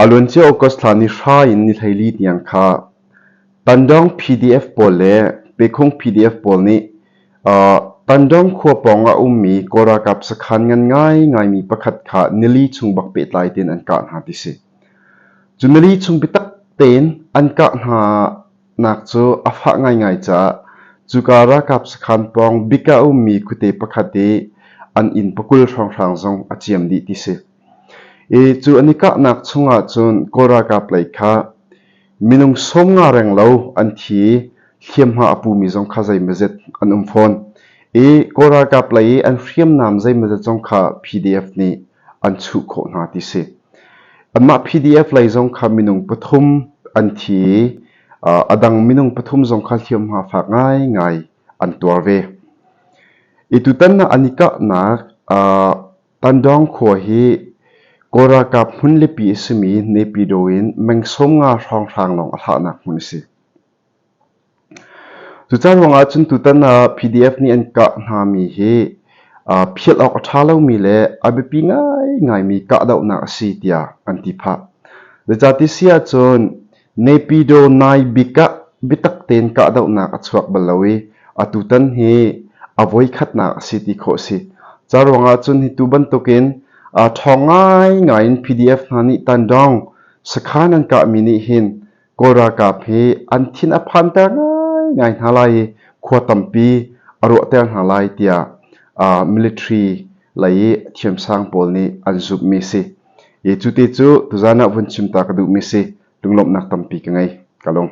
A luancia August thla ni hra in ni hleili tiang kha Tandawng PDF pawl le Pekung PDF pawl nih Tandawng khua pawng ah a ummi Kawl ralkap sakhan ngan ngaingaimi pakhat kha nili chung bak pehtlai tein an kah hna ti si. Cu nili chung biatak tein an kah hna Nak cu a fah ngaingai caah cuka ralkap sakhan pawng bik ah a ummi khuate pakhat i an inn pakul hrawnghrang zong a ciam dih ti si. I cu an i kahnak chungah cun Kawl ralkap lei kha minung sawm nga reng lo an thi i hliamhma a pumi zong kha zeimazet an um fawn. I Kawl ralkap lei i an hriamnam zeimazet zong kha PDF nih an chuh khawh hna ti si. Anmah PDF lei zong kha minung pathum an thi i a dang minung pathum zong kha hliamhma fak ngaingai an tuar ve. I tutan an i kahnak Tandong khua hi Korakap hmun lipi a simi Nepido in meng sawm nga hrawnghrang lawng a thlahnak hmun a si. Cucan ruangah cun tutan ah PDF nih an kah hngami hi phiat awk a ṭha lomi le a biapi ngaingaimi kahdohnak a si tiah an ti phah. Zeicahti si ahcun Nepido nai bik ah biatak tein kahdohnak a chuak bal lo i atutan hi a voikhatnak a si ti khawh a si. Ca ruangah cun hi tu bantukin ṭhawng ngaingai in PDF hna nih tandawng sakhan an kahmi nih hin Kawl ralkap hi an thin a phanter ngaingai hna lai i khua tampi a ruahter hna lai tiah uh, military lei i thiamsang pawl nih an zumhmi si. I cu ti cu tuzan ah vun chim ta ka duhmi si lunglawmhnak tampi ka ngei ka lung.